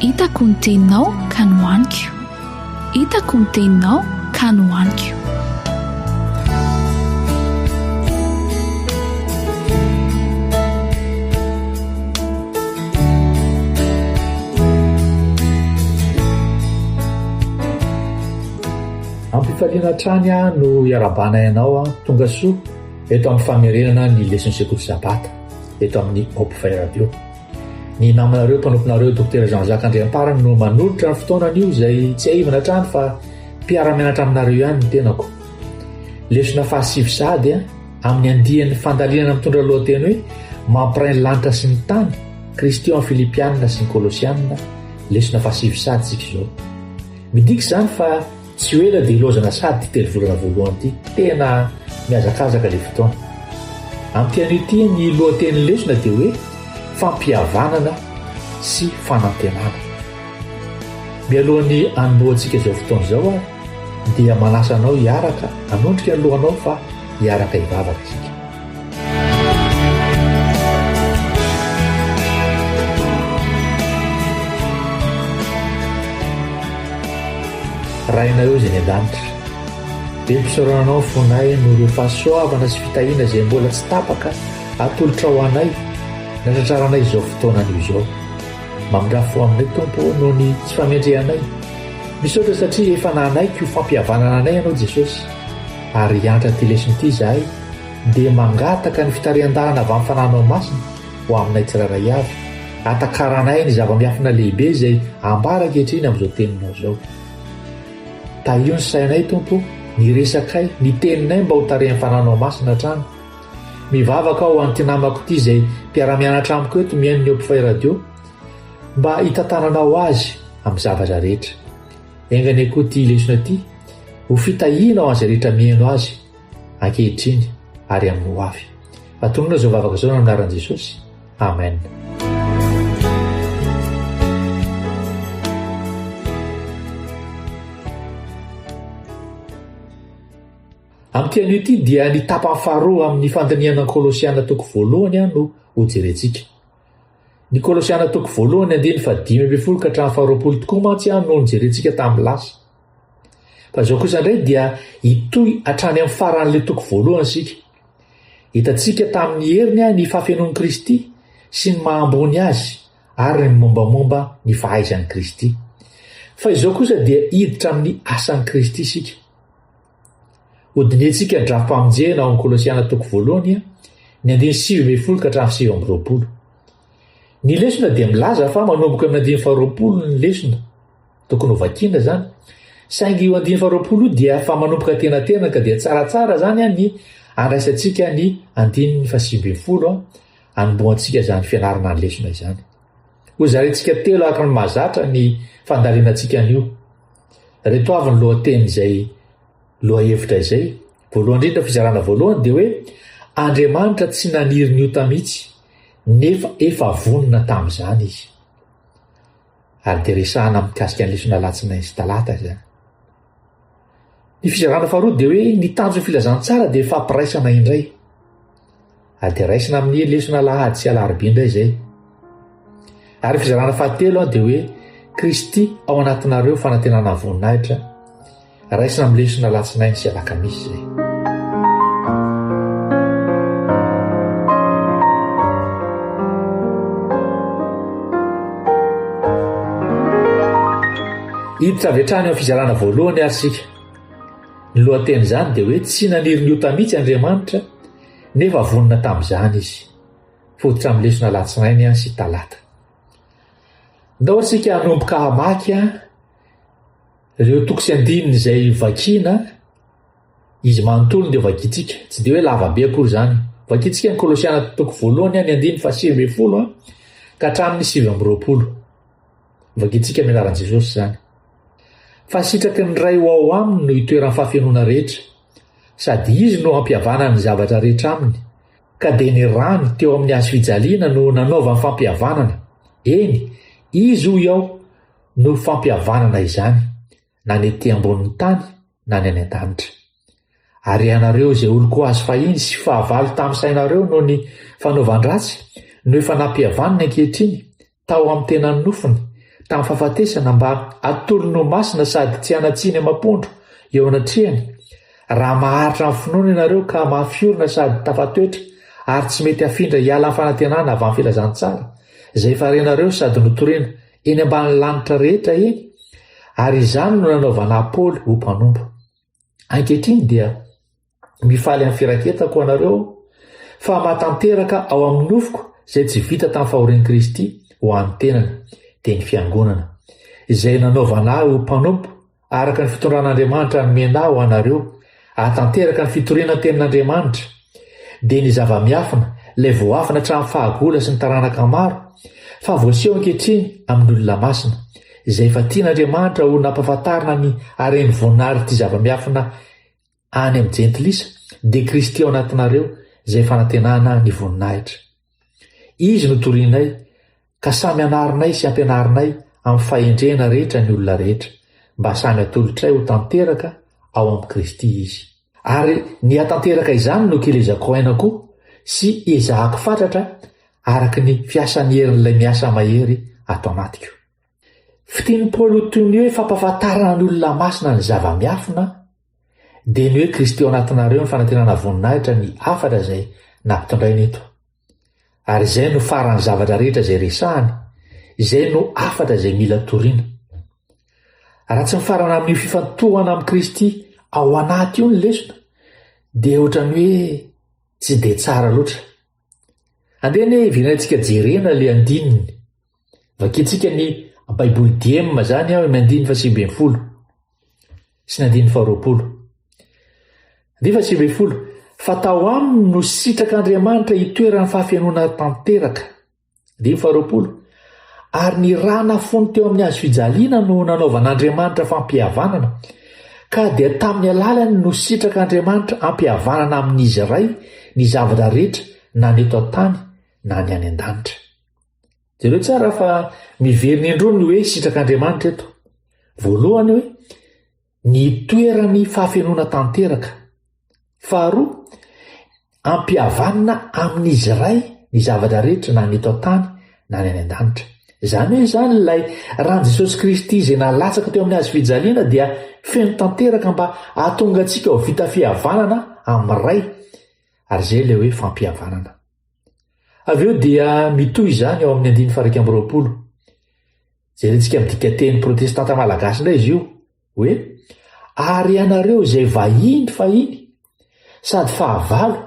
Hitako ny teninao ka nohaniko Hitako ny teninao ka nohaniko Ampifaliana hatrany aho no iarahabanay anao an, tonga soa eto amin'ny famerenana ny lesin'ny sekoly sabata eto amin'ny Hope Fire Radio. Ny namanareo mpanomponareo Dokotera Jean Jacques Andriamparany no manolotra ny fotoana anio izay tsiahivina hatrany fa mpiara-mianatra aminareo ihany ny tenako. Lesona fahasivy sady a, amin'ny andian'ny fandalinana mitondra lohateny hoe mampiray ny lanitra sy ny tany, Kristy ao amin'ny Filipianina sy ny Kolosianina, lesona fahasivy sady tsika izao. Midika izany fa Tsy ho ela dia hilaozana sary ity telo volana voalohany ity. Tena mihazakazaka ilay fotoana. Amin'ity anio ity, ny lohatenin'ny lesona dia hoe fampihavanana sy fanantenana. Mialohan'ny hanombohantsika izao fotoana izao aho dia manasa anao hiaraka hanondrika ny lohanao fa hiaraka hivavaka isika. Rainareo izay ny an-danitra. Be mpisaorana anao fonay noho ireo fahasoavana sy fitahiana izay mbola tsy tapaka atolotrao ho anay natratraranay izao fotoana anio izao. Mamindrafo ho aminay Tompo noho ny tsy fahamendrehanay. Misaotra satria efa nanaiky ho fampihavanana anay ianao Jesosy ary hiantra ity lesona ity izahay dia mangataka ny fitarihan-dalana avy amin'ny fananao masina ho aminay tsirairay avy, hatakaranay ny zava-miafina lehibe izay ambara ankehitriny amin'izao teninao izao. Tahio ny sainay, Tompo, ny resakay, ny teninay mba ho tarihan'ny fananao masina hatrany. Mivavaka aho ho an'ity namako ity izay mpiara-mianatra amiko eto mihaino ny Opifay Radio mba hitantananao azy amin'ny zavatra rehetra. Enga anie koa ity lesona ity ho fitahiana ho an'izay rehetra mihaino azy. ankehitriny ary amin'ny ho avy. Atonina izao vavaka izao amin'ny anaran'i Jesosy. Amen. Amin'ity anio ity dia ny tapany faharoa amin'ny fandinihana ny Kolosiana toko voalohany no hojerentsika. Ny Kolosiana toko voalohany andiny fa dimy ambin'ny folo ka hatramin'ny faharoapolo tokoa mantsy no nojerentsika tamin'ny lasa. Fa izao kosa indray dia hitohy hatrany amin'ny faran'ilay toko voalohany isika. Hitantsika tamin'ny heriny ny fahafenoan'i Kristy sy ny maha ambony azy ary ny mombamomba ny fahaizan'i Kristy. Fa izao kosa dia hiditra amin'ny asan'i Kristy isika. Hodinihintsika ny drafi-pamonjena ao amin'ny Kolosiana toko voalohany ny andiny sivy ambin'ny folo ka hatramin'ny sivy amby roapolo. Ny lesona dia milaza fa manomboka amin'ny andiny faharoapolo ny lesona. Tokony ho vakiana izany. Saingy io andiany faharoapolo io dia fa manomboka tenatena ka dia tsaratsara izany an ny andraisantsika ny andininy fahasivibin'ny folo an, anombohantsika izany fianarana ny lesona izany. Hozarintsika telo araka ny mahazatra ny fandalinantsika an'io. Reto avy ny lohateny izay lohahevitra izay. Voalohany indrindra fizarana voalohany dia hoe Andriamanitra tsy naniry ny ota mihitsy nefa efa vonona tamin'izany izy. Ary dia resahana mikasika ny lesona alatsinainy sy talata izany. Ny fizarana faharoa dia hoe ny tanjon'ny filazantsara dia fampiraisana indray. Ary dia raisina amin'ny lesona alahady sy alarobia indray izay. Ary ny fizarana fahatelo dia hoe Kristy ao anatinareo fanantenana voninahitra Raisan'ny lesona alatsinainy sy alakamisy izay. Hiditra avy hatrany ao fizarana voalohany ary isika. Ny lohatenin'izany dia hoe tsy naniry ny ota mihitsy Andriamanitra nefa vonona tamin'izany izy. Fototra amin'ny lesona alatsinainy an sy talata. Ndao isika hanomboka hamaky an Ireo toko sy andininy izay vakiana izy manontolo dia vakintsika, tsy dia hoe lava be akory izany. Vakintsika ny Kolosiana toko voalohany ny andininy fahasivy ambin'ny folo ka hatramin'ny sivy amby roapolo. Vakintsika amin'ny anaran'i Jesosy izany. Fahasitraky ny Ray ho ao aminy no itoeran'ny fahafenoana rehetra, sady Izy no hampihavanany ny zavatra rehetra aminy, ka dia ny rany teo amin'ny hazofijaliana no nanaovany fampihavanana, eny, Izy hoy aho, no fampihavanana izany na ny ety ambonin'ny tany na ny any an-danitra. Ary ianareo izay olon-ko azo fahiny sy fahavalo tamin'ny sainareo noho ny fanaovan-dratsy no efa nampihavaniny ankehitriny tao amin'ny tenan'ny nofony tamin'ny fahafatesana mba atolony ho masina sady tsy hanatsiny amam-pondro eo anatrehany raha maharitra amin'ny finoana ianareo ka mahafiorina sady tafatoetra ary tsy mety hafindra hiala amin'ny fanantenana avy amin'ny filazantsara izay efa renareo sady notorina eny ambany lanitra rehetra eny, ary izany no nanaovana Apoly ho mpanompo. Ankehitriny dia mifaly amin'ny firaketako anareo fa matanteraka ao amin'ny nofoko izay tsy vita tamin'ny fahorian'i Kristy ho an'ny tenany, dia ny fiangonana, izay nanaovana ahy ho mpanompo Araka ny fitondran'Andriamanitra ny mena ho anareo, ahatanteraka ny fitoriana ny tenin'Andriamanitra, dia ny zava-miafina, ilay voafina hatramin'ny fahagola sy ny taranaka maro, fa voaseho ankehitriny amin'ny olona masina, izay efa tian'Andriamanitra ho nampahafantarina ny hareny voanarin'ity zava-miafina ity. any amin'ny jentilisa dia Kristy ao anatinareo izay fanantenana ny voninahitra. Izy no torianay ka samy anarinay sy ampianarinay amin'ny fahendrena rehetra ny olona rehetra mba samy atolotray ho tanteraka ao amin'i Kristy izy. Ary ny hatanteraka izany no kelezako aina koa sy ezahako fatratra araka ny fiasan'ny herin'ilay miasa mahery ato anatiko. Fitin'i Paoly ho toy ny hoe fampahafantaran'olona masina ny zava-miafina, dia ny hoe Kristy ao anatinareo ny fanantenana voninahitra ny hafatra izay nampitondrainy eto. Ary izay no faran'ny zavatra rehetra izay resahany, izay no hafatra izay mila toriana. Raha tsy mifarana amin'io fifantohana amin'i Kristy ao anaty io ny lesona, dia ohatra ny hoe tsy dia tsara loatra. Andeha anie hiverenantsika jerena ilay andininy Vakintsika ny Baiboly dieny mazany aho amin'ny andininy fahasivy ambin'ny folo sy ny andininy faharoapolo. Andininy fahasivy ambin'ny folo, fa tao aminy no sitrak'Andriamanitra hitoeran'ny fahafenoana tanteraka. Andininy faharoapolo, ary ny ra nafony teo amin'ny hazo fijaliana no nanaovan'Andriamanitra fampihavanana, ka dia tamin'ny alalany no sitrak'Andriamanitra ampihavanana amin'izy iray ny zavatra rehetra na ny eto an-tany na ny any an-danitra. Jereo tsara fa miverina indroa ny hoe sitrak'Andriamanitra eto. Voalohany hoe ny toeran'ny fahafenoana tanteraka. Faharoa, ampihavanina amin'izy iray ny zavatra rehetra na ny eto an-tany na ny any an-danitra. Izany hoe izany ilay ran'i Jesosy Kristy izay nalatsaka teo amin'ny hazo fijaliana dia feno tanteraka mba hahatonga antsika ho vita fihavanana amin'ny Ray. Ary izay ilay hoe fampihavanana. Avy eo dia mitohy izany ao amin'ny andiny faraika amby roapolo. Jerentsika amin'ny dikateny protestanta malagasy indray izy io, hoe ary ianareo izay vahiny fahiny sady fahavalo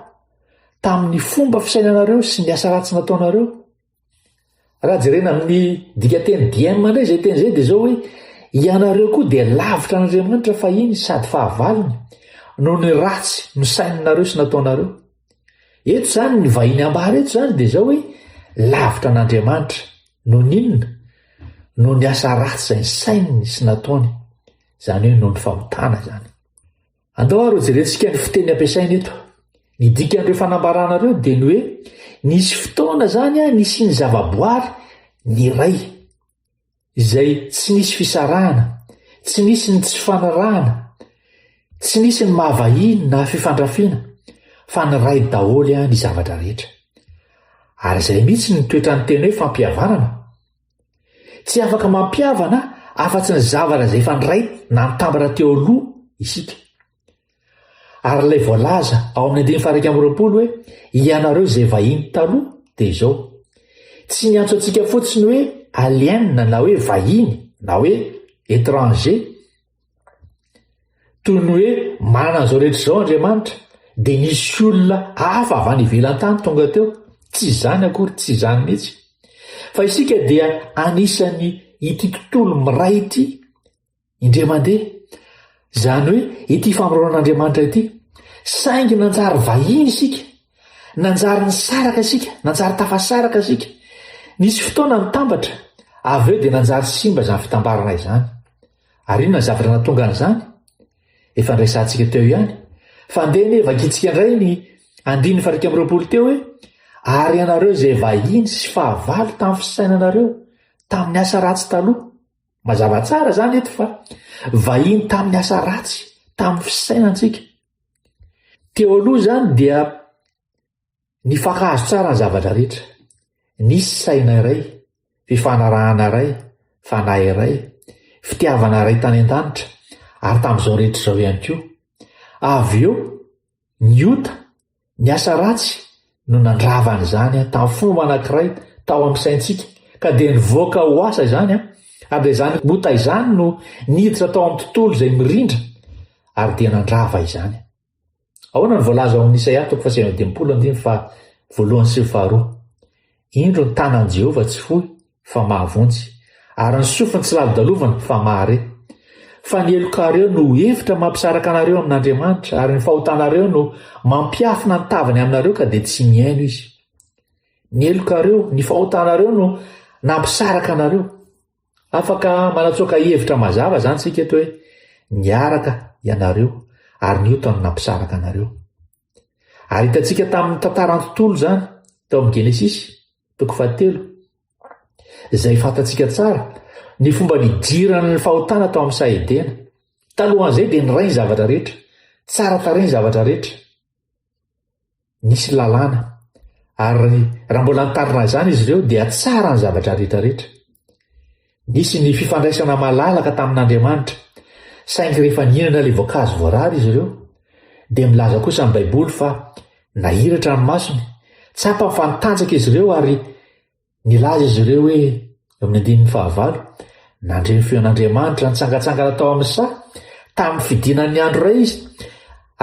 tamin'ny fomba fisainanareo sy ny asa ratsy nataonareo, Raha jerena amin'ny dikateny diema indray izay teny izay dia izao hoe ianareo koa dia lavitra an'Andriamanitra fahiny sady fahavalony noho ny ratsy nosaininareo sy nataonareo. Eto izany ny vahiny ambara eto izany dia izao hoe lavitra an'Andriamanitra noho ny inona? Noho ny asa ratsy izay nisaininy sy nataony, izany hoe noho ny fahotana izany. Andao ary hojerentsika ny fiteny ampiasaina eto. Ny dikan'ireo fanambarana ireo dia ny hoe nisy fotoana izany nisian'ny zavaboary ny iray, izay tsy nisy fisarahana, tsy nisy ny tsy fanarahana, tsy nisy ny mahavahiny na fifandrafiana, fa ny iray daholo ny zavatra rehetra. Ary izay mihitsy ny toetran'ny teny hoe fampihavanana. Tsy afaka mampihavana afa-tsy ny zavatra izay efa niray na nitambatra teo aloha isika. Ary ilay voalaza ao amin'ny andininy faha-iraika amby roapolo hoe ianareo izay vahiny taloha dia izao, tsy niantso antsika fotsiny hoe aliens na hoe vahiny na hoe étrangers, Toy ny hoe manana an'izao rehetra izao Andriamanitra, dia nisy olona hafa avy any ivelan-tany tonga teo. Tsy izany akory, tsy izany mihitsy. Fa isika dia anisan'ny ity tontolo miray ity, indray mandeha, izany hoe ity famoroanan'Andriamanitra ity. Saingy nanjary vahiny isika, nanjary nisaraka isika, nanjary tafasaraka isika. Nisy fotoana nitambatra, avy eo dia nanjary simba izany fitambarana izany. Ary inona ny zavatra nahatonga an'izany? Efa niresahantsika teo ihany. Fa andeha anie vakintsika indray ny andininy fahairika amby roapolo teo hoe Ary ianareo izay vahiny sy fahavalo tamin'ny fisainanareo, tamin'ny asa ratsy taloha. Mazava tsara izany eto fa vahiny tamin'ny asa ratsy, tamin'ny fisainantsika. Teo aloha izany dia Nifankahazo tsara ny zavatra rehetra. Nisy saina iray, fifanarahana iray, fanahy iray, fitiavana iray tany an-danitra, ary tamin'izao rehetra izao ihany koa. Avy eo, ny ota, ny asa ratsy, no nandrava an'izany tamin'ny fomba anankiray tao amin'ny saintsika, ka dia nivoaka ho asa izany, ary dia izany ota izany no niditra tao amin'ny tontolo izay mirindra, ary dia nandrava izany. Ahoana no voalaza ao amin'ny Isaia toko fahasivy amby dimampolo andiny faha voalohany sy faharoa? Indro ny tanan'i Jehovah tsy fohy fa mahavonjy, ary ny sofiny tsy lalodalovana fa mahare. Fa ny helokareo no hevitra mampisaraka anareo amin'Andriamanitra, ary ny fahotanareo no mampiafina ny tavany aminareo ka dia tsy mihaino izy. Ny helokareo, ny fahotanareo no nampisaraka anareo. Afaka manatsoaka hevitra mazava izany isika eto hoe niaraka ianareo ary niota no nampisaraka anareo. Ary hitantsika tamin'ny tantaran'ny tontolo izany tao amin'ny Genesisy, toko fahatelo, izay fantatsika tsara ny fomba nidiran'ny fahotana tao amin'ny saha Edena. Talohan'izay dia niray ny zavatra rehetra, tsara tarehy ny zavatra rehetra. nisy lalàna ary raha mbola nitarina izany izy ireo dia tsara ny zavatra rehetrarehetra. Nisy ny fifandraisana malalaka tamin'Andriamanitra, saingy rehefa nihinana ilay voankazo voarara izy ireo, dia milaza kosa ny Baiboly fa nahiratra ny masony, tsapany fa nitanjaka izy ireo ary Nilaza izy ireo hoe, amin'ny andininy fahavalo, Nandre ny feon'Andriamanitra nitsangantsangana tao amin'ny saha, tamin'ny fidinan'ny andro iray izy,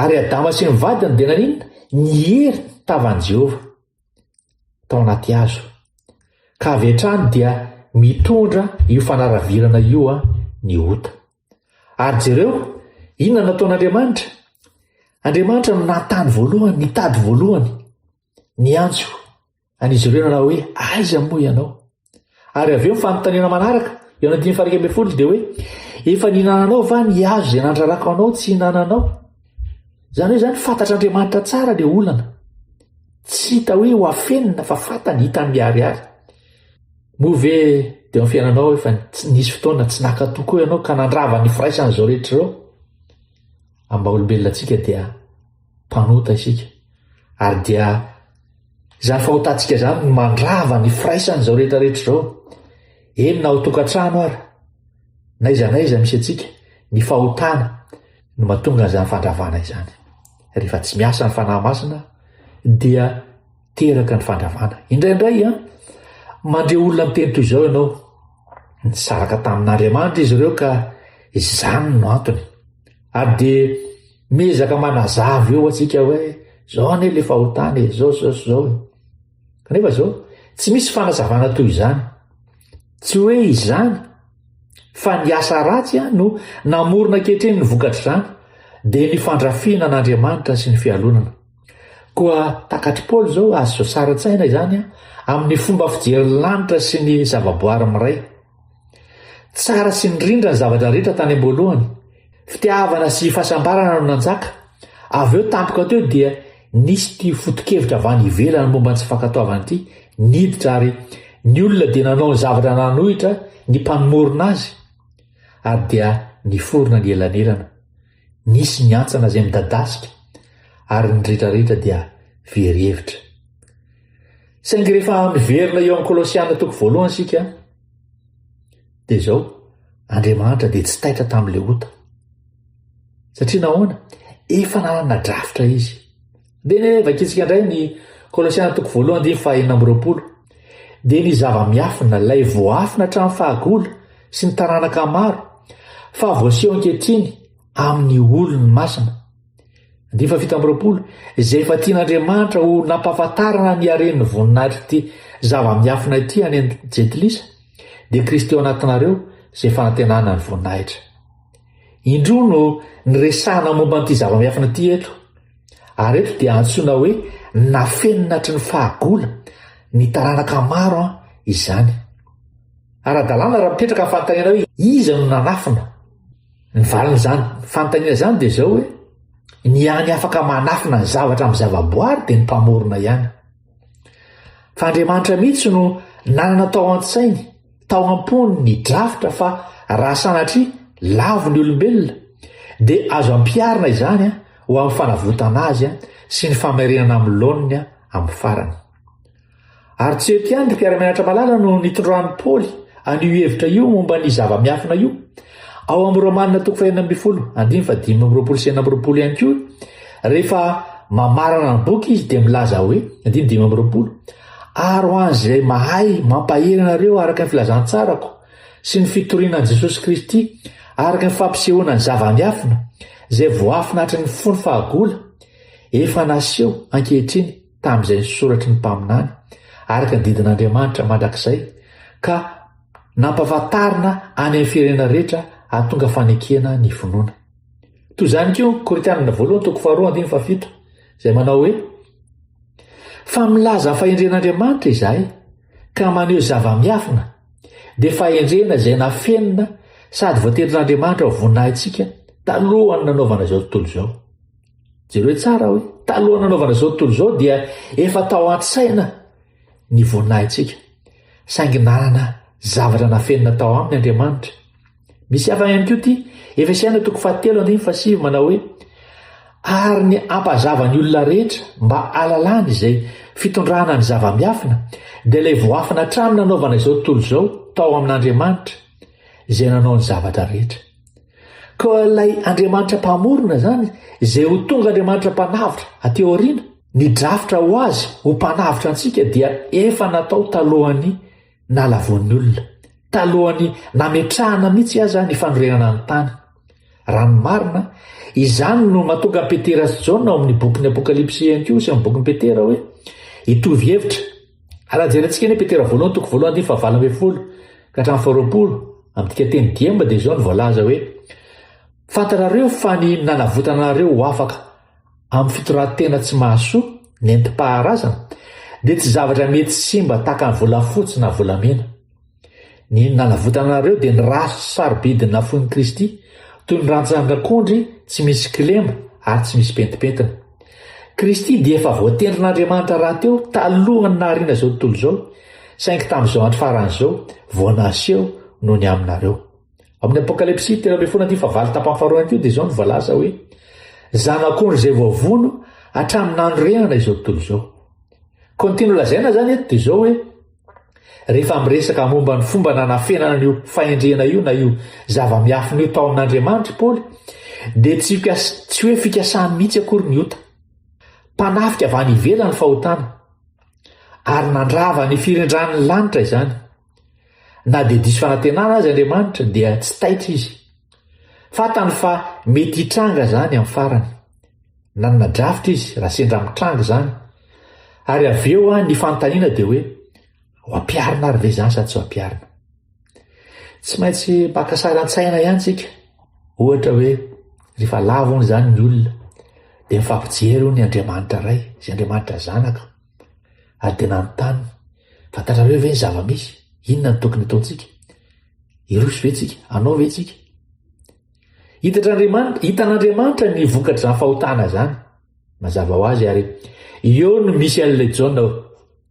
ary Adama sy ny vadiny dia naninona? Niery tavan'i Jehovah tao anaty hazo. Ka avy hatrany dia mitondra io fanaravirana io ny ota. Ary jereo, inona nataon'Andriamanitra? Andriamanitra no nanontany voalohany, nitady voalohany, niantso. Any izy ireo nanao hoe, Aiza moa ianao? Ary avy eo ny fanontaniana manaraka, eo anatiny farika ambin'ny folo dia hoe, Efa nihinananao va ny hazo izay nandrarako anao tsy hinananao? Izany hoe izany fantatr'Andriamanitra tsara ilay olana. Tsy hita hoe ho afenina fa fantany, hitany miharihary. Moa ve dia amin'ny fiainanao efa nisy fotoana tsy nakato koa ianao ka nandrava ny firaisan'izao rehetra izao? Amin'ny maha olombelona antsika dia mpanota isika ary dia izany fahotantsika izany no mandrava ny firaisana izao rehetra rehetra izao eny na ao tokantrano ary na iza na iza misy antsika ny fahotana no matonga an'izany fandravana izany rehefa tsy miasa ny fanahy masina dia teraka ny fandravana indraindray a mandre olona miteny toy izao ianao nisaraka tamin'andriamanitra izy ireo ka izany no antony ary dia Miezaka manazava eo antsika hoe zao anie le fahotana e, zao zao sy zao e. Kanefa zao, tsy misy fanazavana toy izany. Tsy hoe izany fa ny asa ratsy a no namorona ankehitriny ny vokatr'izany dia ny fandrafiana an'Andriamanitra sy ny fialonana. Koa takatr'i Paoly zao azo sasara-tsaina izany a amin'ny fomba fijerin'ny lanitra sy ny zavaboary miray. Tsara sy nirindra ny zavatra rehetra tany am-boalohany. Fitiavana sy fahasambarana no nanjaka. Avy eo tampoka teo dia nisy ity foto-kevitra avy any ivelany momba ny tsy fankatoavana ity niditra ary ny olona dia nanao ny zavatra nanohitra ny mpanomorona azy ary dia niforona ny elanelana. Nisy ny hantsana izay midadasika ary ny rehetrarehetra dia very hevitra. Saingy rehefa miverina eo amin'ny Kolosiana toko voalohany isika dia izao, Andriamanitra dia tsy taitra tamin'ilay ota. Satria nahoana? Efa nanana drafitra Izy. Dia vakintsika indray ny Kolosiana toko voalohany andininy fahaenina amby roapolo. Dia ny zava-miafina, ilay voafina hatramin'ny fahagola sy ny taranaka maro, fa voaseho ankehitriny amin'ny olony masina. Andininy fahafito amby roapolo, izay efa tian'Andriamanitra ho nampahafantarana ny haren'ny voninahitr'ity zava-miafina ity any an-jentilisa, dia Kristy ao anatinareo, izay fanantenana ny voninahitra. Indroa no niresahana momba an'ity zava-miafina ity eto. Ary eto dia antsoina hoe nafenina hatry ny fahagola ny taranaka maro an izany. Ara-dalàna raha mipetraka ny fanontaniana hoe iza no nanafina. Ny valin'izany fanontaniana izany dia izao hoe ny hany afaka manafina ny zavatra amin'ny zavaboary dia ny mpamorona ihany. Fa Andriamanitra mihitsy no nanana tao an-tsainy, tao am-pony ny drafitra fa raha sanatria lavo ny olombelona, dia azo ampiharina izany ho amin'ny fanavotana azy sy ny famerenana amin'ny laoniny amin'ny farany. Ary tsy eto ihany ry mpiara-mianatra malala no nitondran'i Paoly an'io hevitra io momba ny zava-miafina io, Ao amin'ny Romanina toko fahenina ambin'ny folo andininy fahadimy amby roapolo sy enina amby roapolo ihany koa, rehefa mamarana ny boky izy dia milaza hoe, andininy dimy amby roapolo, ary ho an'izay mahay mampahery anareo araka ny filazantsarako sy ny fitoriana an'i Jesosy Kristy araka ny fampisehoana ny zava-miafina izay voafina hatry ny fony fahagola efa naseho ankehitriny tamin'izay nisoratry ny mpaminany, araka ny didin'Andriamanitra mandrakizay, ka nampahafantarina any amin'ny firenena rehetra hahatonga fanekena ny finoana. Toy izany koa ny Korintianina voalohany toko faharoa andiny fahafito, izay manao hoe, Fa milaza ny fahendren'Andriamanitra izahay, ka maneho zava-miafina, dia fahendrena izay nafenina sady voatendrin'Andriamanitra ho voninahitsika talohan'ny nanaovana izao tontolo izao. Jereo tsara hoe talohan'ny nanaovana izao tontolo izao dia efa tao an-tsaina ny voninahintsika. Saingy nanana zavatra nafenina tao aminy Andriamanitra. Misy hafa ihany koa ity Efesiana toko fahatelo andininy fasiv manao hoe ary ny ampazava ny olona rehetra mba alalany izay fitondrana ny zava-miafina dia ilay voafina hatramin'ny nanaovana izao tontolo izao tao amin'Andriamanitra izay nanao ny zavatra rehetra. Koa ilay Andriamanitra Mpamorona izany, izay ho tonga Andriamanitra Mpanavotra aty aoriana, ny drafitra ho Azy ho Mpanavotra antsika dia efa natao talohan'ny nalavoan'ny olona, talohan'ny nametrahana mihitsy aza ny fanorenana ny tany. Raha ny marina, izany no mahatonga an'i Petera sy Jaona ao amin'ny bokin'ny Apokalypsy ihany koa sy amin'ny bokin'i Petera hoe hitovy hevitra Raha jerentsika anie Petera voalohany toko voalohany andiny fahavalo ambin'ny folo ka hatramin'ny faharoapolo amin'ny dikateny diemba dia izao no voalaza hoe fantarareo fa ny nanavotana anareo ho afaka amin'ny fitorantena tsy mahasoa nentim-paharazana dia tsy zavatra mety simba tahaka ny volafotsy na volamena. Ny nanavotana anareo dia ny ra sy sarobidy nafoin'i Kristy, toy ny rantsandrak'ondry tsy misy kilema ary tsy misy pentimpentina. Kristy dia efa voatendrin'Andriamanitra rahateo talohan'ny nahariana izao tontolo izao, saingy tamin'izao andro farany izao vao naseho noho ny aminareo. Amin'ny Apokalypsy telo ambin'ny folo andivo fahavalo tapany faharoa ihany koa dia izao no voalaza hoe, Zanak'ondry izay voavono hatramin'ny nanorenana izao tontolo izao. Continue lazaina izany eto dia izao hoe, Rehefa miresaka momba ny fomba nanafenana an'io fahendrena io na io zava-miafina io tao amin'Andriamanitra i Paoly, dia tsy, tsy hoe fikasany mihitsy akory ny ota. Mpanafika avy any ivelany fahotana, ary nandrava ny firindran'ny lanitra izany. Na dia diso fanantenana azy Andriamanitra, dia tsy taitra izy. Fantany fa mety hitranga izany amin'ny farany. Nanana drafitra izy raha sendra mitranga izany. Ary avy eo an, ny fanontaniana dia hoe, ho ampiharina ary ve izany sa tsy ho ampiharina? Tsy maintsy maka sary an-tsaina ihany tsika. Ohatra hoe, rehefa lavo hono izany ny olona, dia mifampijery hono ny Andriamanitra Ray sy Andriamanitra Zanaka. Ary dia nanontany, fantatrareo ve ny zava-misy? Inona no tokony hataontsika? Hiroso ve tsika? Hanao ve tsika? Hitan'Andriamanitra, hitan'Andriamanitra ny vokatr'izany fahotana izany. Mazava ho azy ary eo no misy an'ilay Jaona ao.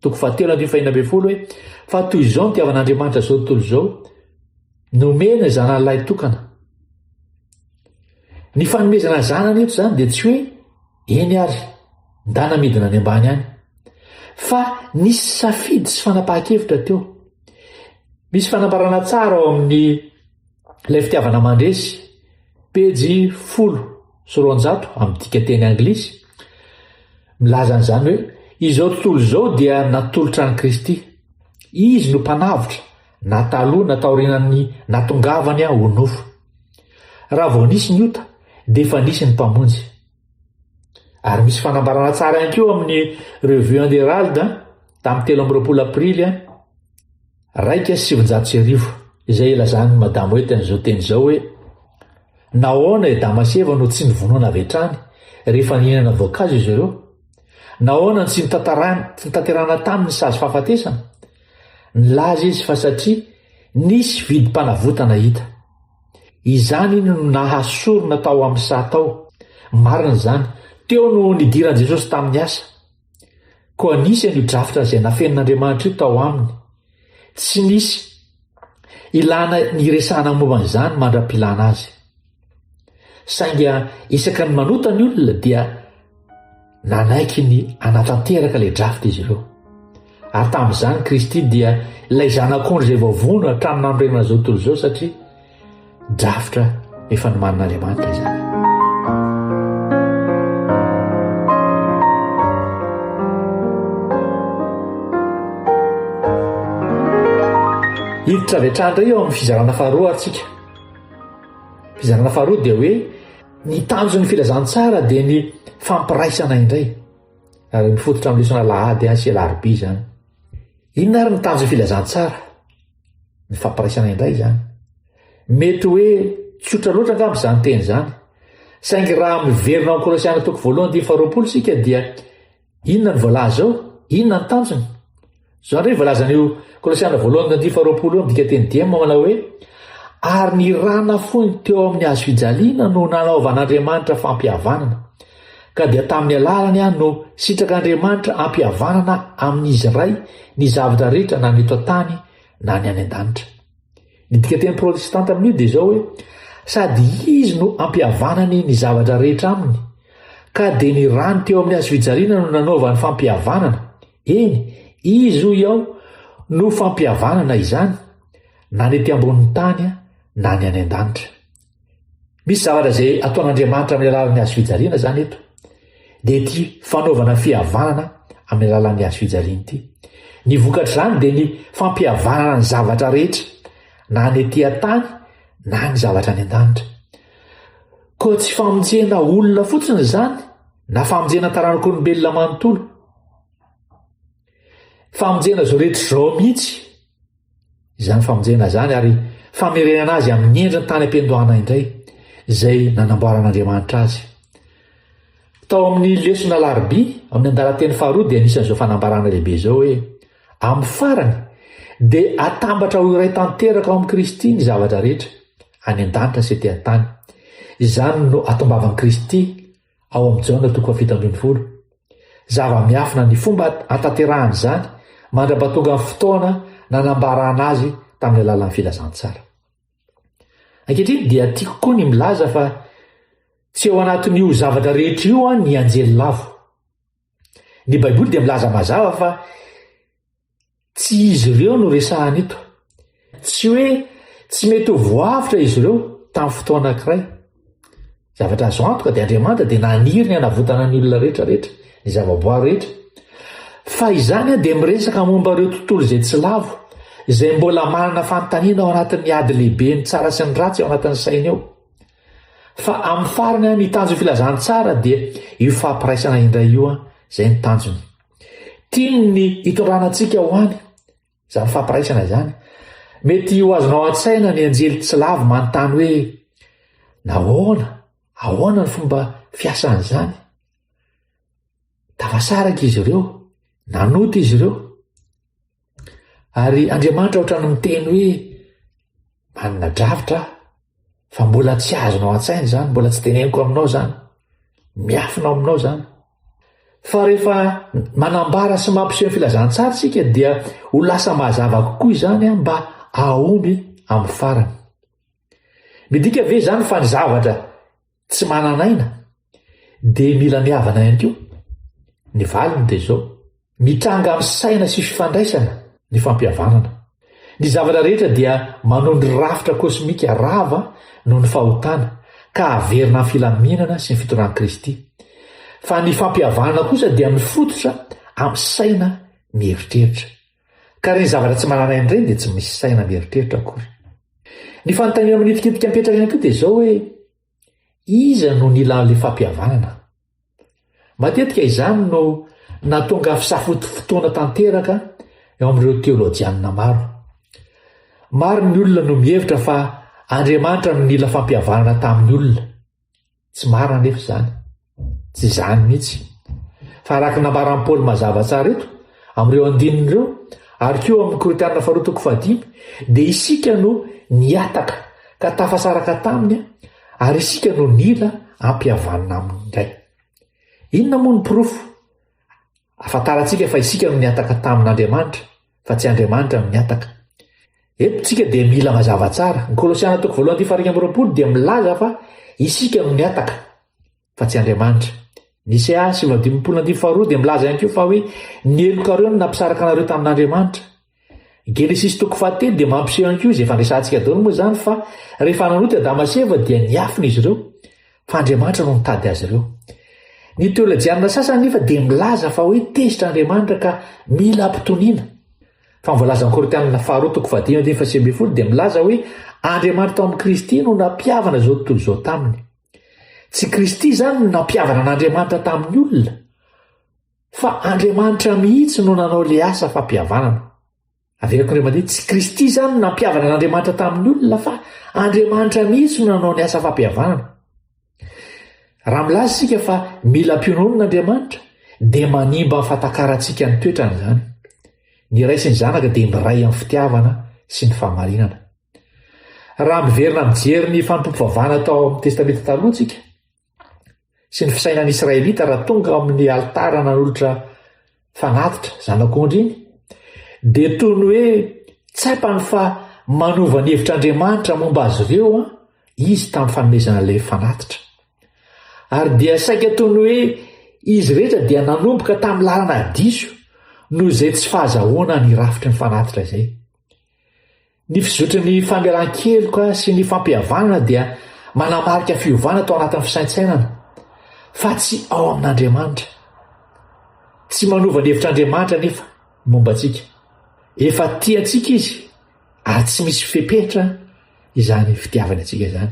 Toko fahatelo andin'ny fahina ambin'ny folo hoe fa toy izao ny tiavan'Andriamanitra izao tontolo izao nomena zanany lahy tokana. Ny fanomezana zanany eto izany dia tsy hoe eny ary ndana midina any ambany any fa nisy safidy sy fanapahan-kevitra teo. Misy fanambarana tsara ao amin'ny Ilay fitiavana mandresy, pejy folo sy roanjato amin'ny dika teny anglisy, milaza an'izany hoe izao tontolo izao dia natolotra an'i Kristy. Izy no mpanavotra na taloha na taorianan'ny natongavany ho nofo. Raha vao nisy ny ota dia efa nisy ny Mpamonjy. Ary misy fanambarana tsara ihany koa amin'ny Revue and Herald tamin'ny telo amby roapolo Aprily iraika sy sivinjato sy arivo izay ilazan'i Madame Wete an'izao teny izao hoe Nahoana i Damaseva no tsy nivonona avy hatrany rehefa nihinana voankazo izy ireo? Nahoana no tsy notanterahina taminy ny sazy fahafatesana? Nilaza izy fa satria nisy vidim-panavotana hita. Izany no nahasorona tao amin'ny saha tao. Marina izany. Teo no nidiran'i Jesosy tamin'ny asa. Koa nisy an'io drafitra izay nafenin'Andriamanitra io tao Aminy. Tsy nisy ilàna niresahana momba an'izany mandra-pilàna Azy. Saingy isaky ny manota ny olona dia Nanaiky ny hanatanteraka ilay draft izy ireo. Ary tamin'izany Kristy dia ilay zanak'ondry izay voavono hatramin'ny nanorenana izao tontolo izao satria drafitra efa nomanin'Andriamanitra izany. Hiditra avy hatrany indray eo amin'ny fizarana faharoa ary tsika. Fizarana faharoa dia hoe Ny tanjon'ny filazantsara dia ny fampiraisana indray, ary mifototra amin'ny lesona lahady any sy alarobia izany. Inona ary ny tanjon'ny filazantsara? Ny fampiraisana indray izany. Mety hoe tsotra loatra angamba izany teny izany, saingy raha miverina ao Kolosiana toko voalohany dia faharoapolo isika dia Inona no voalaza eo? Inona ny tanjony? Izao indray voalazan'io Kolosiana voalohany tandiny faharoapolo eo amin'ny dikateny dia manao hoe ary ny ra nafoiny teo amin'ny hazo fijaliana no nanaovan'Andriamanitra fampihavanana, ka dia tamin'ny alalany ihany no sitrak'Andriamanitra ampihavanana amin'izy iray ny zavatra rehetra na ny eto an-tany na ny any an-danitra. Ny dikateny protestanta amin'io dia izao hoe sady izy no ampihavanany ny zavatra rehetra aminy, ka dia ny rany teo amin'ny hazo fijaliana no nanaovany fampihavanana, eny, izy hoy aho no fampihavanana izany, na ny ety ambonin'ny tany na ny any an-danitra. Misy zavatra izay ataon'Andriamanitra amin'ny alalan'ny hazo fijaliana izany eto. Dia ity fanaovana fihavanana amin'ny alalan'ny hazo fijaliana ity. Ny vokatr'izany dia ny fampihavanana ny zavatra rehetra, na ny ety an-tany na ny zavatra any an-danitra. Koa tsy famonjena olona fotsiny izany, na famonjena taranak'olombelona manontolo. Famonjena izao rehetra izao mihitsy. Izany famonjena izany ary famerenana azy amin'ny endriny tany am-piandohana indray, izay nanamboaran'Andriamanitra azy. Tao amin'ny lesona Alarobia, amin'ny andalan-teny faharoa dia nisy an'izao fanambarana lehibe izao hoe amin'ny farany dia atambatra ho iray tanteraka ao amin'i Kristy ny zavatra rehetra, any an-danitra sy ety an-tany. Izany no atombavan'i Kristy Ao amin'i Jaona toko fahafito ambin'ny folo. Zava-miafina ny fomba hatanterahana izany mandra-pahatongan'ny fotoana nanambarana azy tamin'ny alalan'ny filazantsara. Ankehitriny dia tiako koa ny milaza fa tsy ao anatin'io zavatra rehetra io an ny anjely lavo. Ny Baiboly dia milaza mazava fa tsy izy ireo no resahana eto. Tsy hoe tsy mety ho voavotra izy ireo tamin'ny fotoana anankiray. Zavatra azo antoka dia Andriamanitra dia naniry ny hanavotana ny olona rehetra rehetra, ny zavaboary rehetra. Fa izany dia miresaka momba ireo tontolo izay tsy lavo, izay mbola manana fanontaniana ao anatin'ny ady lehiben'ny tsara sy ny ratsy ao anatin'ny sainy ao. Fa amin'ny farany an, ny tanjon'ny filazantsara dia io fampiraisana indray io an, izay ny tanjony. Tiany ny hitondrana antsika ho any, izany fampiraisana izany. Mety ho azonao an-tsaina ny anjely tsy lavo manontany hoe nahoana, ahoana ny fomba fiasan'izany. Tafasaraka izy ireo, nanota izy ireo. Ary Andriamanitra ohatrany miteny hoe manana drafitra aho fa mbola tsy azonao an-tsaina izany, mbola tsy teneniko aminao izany, miafina ao aminao izany. Fa rehefa manambara sy mampiseho ny filazantsara isika dia ho lasa mazava kokoa izany mba ahomby amin'ny farany. Midika ve izany fa ny zavatra tsy manana aina de mila mihavana ihany koa ny valiny de zao mitranga am saina sy fifandraisana ny fampihavanana ny zavatra rehetra dia manondry rafitra kosmika rava no ny fahotana ka averina filaminana sy ny fitoran kristy fa ny fampihavanana kosa dia mifototra am saina mieritreritra Ka ireny zavatra tsy manan'aina ireny dia tsy misy saina mieritreritra akory. Ny fanontaniana manifintimpika mipetraka ihany koa dia izao hoe, iza no nila an'ilay fampihavanana? Matetika izany no nahatonga fisafoto fotoana tanteraka eo amin'ireo teolojianina maro. Maro ny olona no mihevitra fa Andriamanitra no nila fampihavanana tamin'ny olona. Tsy marina anefa izany. Tsy izany mihitsy. Fa araka ny nambaran'i Paoly mazava tsara eto, amin'ireo andininy ireo, ary koa ao amin'ny Korintiana faharoa toko fahadimy, dia isika no nihataka ka tafasaraka taminy ary isika no nila ampihavanina aminy indray. Inona moa ny porofo ahafantarantsika fa isika no nihataka tamin'Andriamanitra? fa tsy Andriamanitra no nihataka. Eto tsika dia mila mazava tsara, ny Kolosiana toko voalohany andininy faharoa amby roapolo dia milaza fa isika no nihataka, fa tsy Andriamanitra. Nisea sivy amby dimampolo andininy faharoa dia milaza ihany koa fa hoe ny helokareo no nampisaraka anareo tamin'Andriamanitra. Genesisy toko fahatelo dia mampiseho ihany koa izay fandresantsika daholo moa izany fa rehefa nanota i Adama sy Eva dia niafina izy ireo. fa Andriamanitra no nitady azy ireo. Ny teolojianina sasany anefa dia milaza fa hoe tezitra Andriamanitra ka mila ampitoniana. Fa ny voalazan'ny Korintianina faharoa toko fahadimy andininy faha sivy ambin'ny folo dia milaza hoe Andriamanitra tao amin'ny Kristy no nampihavana izao tontolo izao taminy. Tsy Kristy izany no nampihavana an'Andriamanitra tamin'ny olona, fa Andriamanitra mihitsy no nanao ilay asa fampihavanana. Averiko ry aman-dreny, tsy Kristy izany no nampihavana an'Andriamanitra tamin'ny olona fa Andriamanitra mihitsy no nanao ny asa fampihavanana. Raha milaza isika fa mila mpiononona Andriamanitra dia manimba ny fatakarantsika ny toetrany izany. Ny Ray sy ny Zanaka dia miray amin'ny fitiavana sy ny fahamarinana. Raha miverina mijery ny fanompoam-pivavahana tao amin'ny Testamenta Taloha isika, sy ny fisainan'ny Israelita raha tonga ao amin'ny alitara nanolotra fanatitra zanak'ondry iny, dia toy ny hoe tsapany fa manova ny hevitr'Andriamanitra momba azy ireo an, izy tamin'ny fanomezana ilay fanatitra. Ary dia saika toy ny hoe izy rehetra dia nanomboka tamin'ny lalana diso noho izay tsy fahazahoana ny rafitry ny fanatitra izay. Ny fizotry ny famelan-keloka sy ny fampihavanana dia manamarika fiovana tao anatin'ny fisaintsainana, fa tsy ao amin'Andriamanitra. Tsy manova ny hevitr'Andriamanitra anefa momba antsika. Efa tia antsika izy, ary tsy misy fepetra izany fitiavany antsika izany.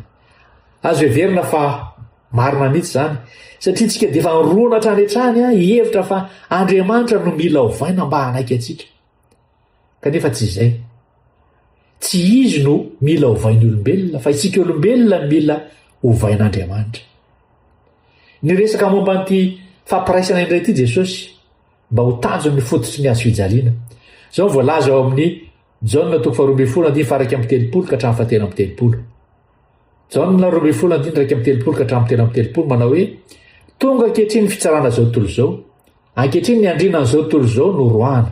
Azo heverina fa marina mihitsy izany, satria isika dia efa nirona hatrany hatrany hihevitra fa Andriamanitra no mila ovaina mba hanaiky antsika. Kanefa tsy izay. Tsy izy no mila ovain'ny olombelona, fa isika olombelona no mila ovain'Andriamanitra. Niresaka momba an'ity fampiraisana indray ity Jesosy mba ho tanjon'ny fototry ny hazo fijaliana. Izao no voalaza ao amin'ny Jaona toko faharoa ambin'ny folo andiny faharaika amby telopolo ka hatramin'ny fahatelo amby telopolo. Jaona roa ambin'ny folo andiny iraika amby telopolo ka hatramin'ny telo amby telopolo manao hoe tonga ankehitriny ny fitsarana izao tontolo izao. Ankehitriny ny andriana an'izao tontolo izao no roahana.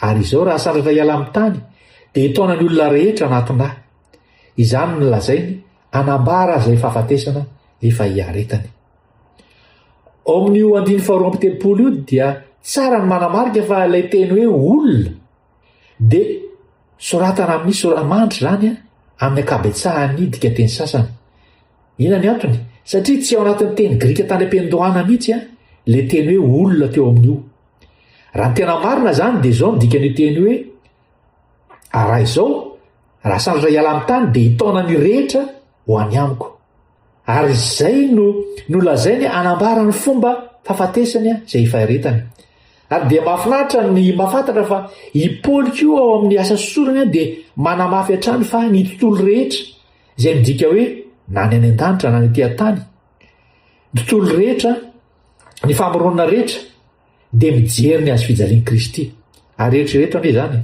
Ary izao raha sandratra hiala amin'ny tany dia hitaona ny olona rehetra anatin-dà. Izany no nolazainy hanambara izay fahafatesana efa hiaretany. Ao amin'io andiny faharoa amby telopolo io dia tsara ny manamarika fa ilay teny hoe olona Dia soratana amin'ny sora-mandry izany amin'ny ankabetsahan'ny dikanteny sasany. Inona ny antony? Satria tsy ao anatin'ny teny grika tany am-piandohana mihitsy ilay teny hoe olona teo amin'io. Raha ny tena marina izany dia izao ny dikan'io teny hoe raha izao, raha sandratra hiala amin'ny tany dia hitaona ny rehetra ho any amiko. Ary izay no nolazainy hanambara ny fomba fahafatesany izay hifaritany. Ary dia mahafinaritra ny mahafantatra fa i Paoly koa ao amin'ny asa sorony dia manamafy hatrany fa ny tontolo rehetra, izay midika hoe na ny any an-danitra na ny aty an-tany, ny tontolo rehetra, ny famoronana rehetra, dia mijery ny hazofijalian'i Kristy. Ary eritrereto anie izany,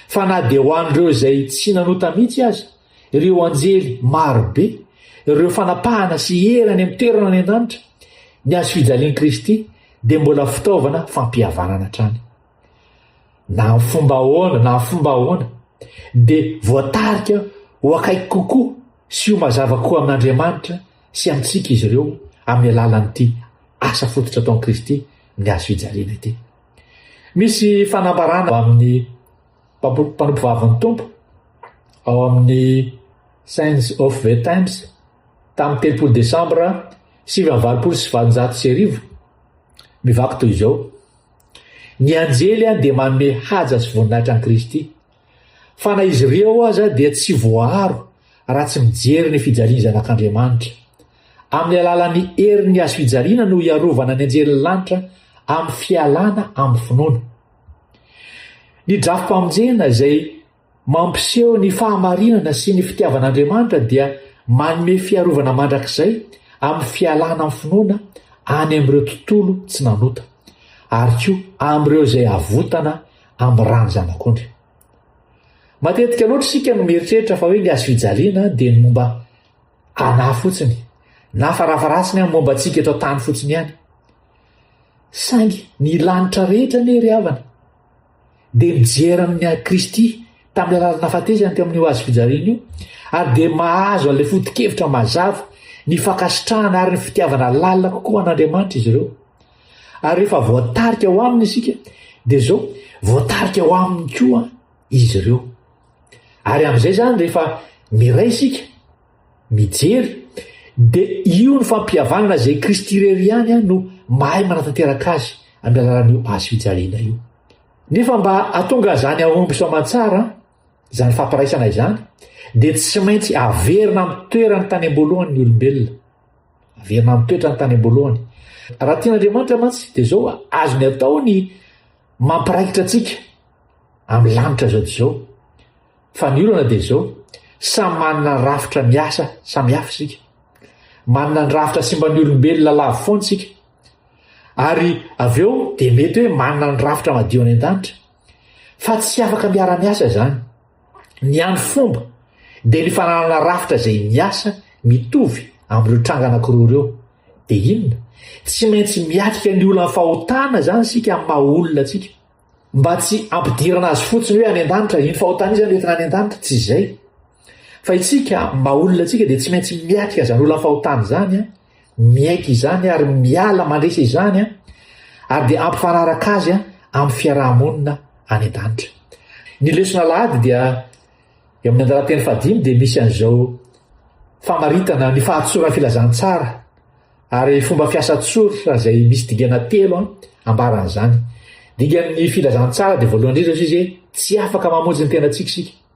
fa na dia ho an'ireo izay tsy nanota mihitsy aza, ireo anjely marobe, ireo fanapahana sy hery any amin'ny toerana any an-danitra, ny hazofijalian'i Kristy dia mbola fitaovana fampihavanana hatrany. Na amin'ny fomba ahoana, na amin'ny fomba ahoana, dia voatarika ho akaiky kokoa sy ho mazava koa amin'Andriamanitra sy amintsika izy ireo amin'ny alalan'ity asa fototra ataon'i Kristy ny hazo fijaliana ity. Misy fanambarana ao amin'ny mpanompo vavin'ny Tompo ao amin'ny Signs of the Times tamin'ny telopolo Desambra sivy amby valopolo sy valonjato sy arivo mivaky toy izao, Ny anjely dia manome haja sy voninahitra an'i Kristy, Fa na izy ireo aza dia tsy voaaro raha tsy mijery ny fijaliany Zanak'Andriamanitra. Amin'ny alalan'ny herin'ny hazo fijaliana no hiarovana ny anjelin'ny lanitra amin'ny fialana amin'ny finoana. Ny drafi-pamonjena izay mampiseho ny fahamarinana sy ny fitiavan'Andriamanitra dia manome fiarovana mandrakizay amin'ny fialana amin'ny finoana any amin'ireo tontolo tsy nanota, ary koa amin'ireo izay avotana amin'ny rano zanak'ondry. Matetika loatra isika no mieritreritra fa hoe ny azo fijaliana dia ny momba anà fotsiny, na farafarasiny amin'ny momba antsika eto an-tany fotsiny ihany. Saingy ny lanitra rehetra anie ry havana dia mijery amin'ny an'i Kristy tamin'ny alalan'ny nafatesany teo amin'io azo fijaliana io ary dia mahazo an'ilay foto-kevitra mazava ny fankasitrahana ary ny fitiavana lalina kokoa an'Andriamanitra izy ireo. Ary rehefa voatarika ho aminy isika, dia izao, voatarika ho aminy koa izy ireo. Ary amin'izay izany rehefa miray isika, mijery, dia io ny fampihavanana izay Kristy irery ihany no mahay manatanteraka azy amin'ny alalan'io hazo fijaliana io. Nefa mba hatonga izany hahomby soa aman-tsara, izany fampiraisana izany, dia tsy maintsy averina amin'ny toerany tany am-boalohany ny olombelona. Averina amin'ny toetrany tany am-boalohany. Raha tian'Andriamanitra mantsy dia izao azony atao ny mampiraikitra antsika amin'ny lanitra izao dia izao. Fa ny olana dia izao, samy manana ny rafitra miasa samihafa isika. Manana ny rafitra simban'ny olombelona lavo foana isika. Ary avy eo dia mety hoe manana ny rafitra madio any an-danitra. Fa tsy afaka miara-miasa izany. Ny hany fomba dia ny fananana rafitra izay miasa mitovy amin'ireo tranga anankiroa ireo. Dia inona? Tsy maintsy miatrika ny olan'ny fahotana izany isika amin'ny maha olona antsika. Mba tsy hampidirana azy fotsiny hoe any an-danitra, iny fahotana iny izany hoentina any an-danitra, tsy izay. Fa isika amin'ny maha olona antsika dia tsy maintsy miatrika izany olan'ny fahotana izany an! Miaiky izany ary miala mandresy izany ary dia ampifanaraka azy amin'ny fiaraha-monina any an-danitra. Ny lesona alahady dia eo amin'ny andalan-teny fahadimy dia misy an'izao famaritana ny fahatsoran'ny filazantsara ary fomba fiasa tsortra izay misy dingana telo ambaran'izany. Dingan'ny filazantsara dia voalohany indrindra izy hoe tsy afaka mamonjy ny tenantsika isika.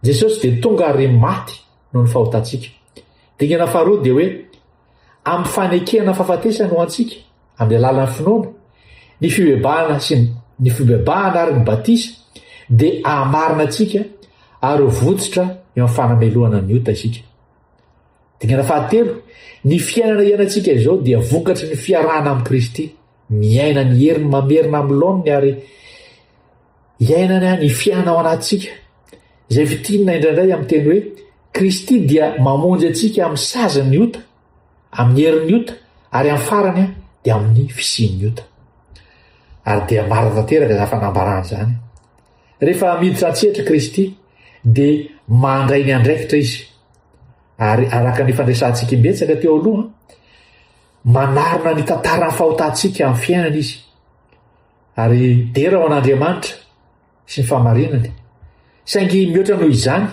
Jesosy dia tonga ary maty noho ny fahotantsika. Dingana faharoa dia hoe, amin'ny fanekena ny fahafatesany ho antsika, amin'ny alalan'ny finoana, ny fibebahana sy ny fibebahana ary ny batisa, dia amarina antsika ary ho votsotra eo amin'ny fanamelohana ny ota isika. Dingana fahatelo, ny fiainana iainantsika izao dia vokatry ny fiarahana amin'i Kristy, miaina ny heriny mamerina amin'ny laoniny ary Iainana ny fiana ao anatintsika, izay fintinina indraindray amin'ny teny hoe Kristy dia mamonjy antsika amin'ny sazin'ny ota, amin'ny herin'ny ota, ary amin'ny farany dia amin'ny fisian'ny ota. Ary dia marina tanteraka izany fanambarana izany. Rehefa miditra an-tsehatra Kristy, dia mandray ny andraikitra izy. Ary araka ny fandresantsika imbetsaka teo aloha, manarina ny tantaran'ny fahotantsika amin'ny fiainana izy. Ary dera ho an'Andriamanitra sy ny fahamarinany. Saingy mihoatra noho izany,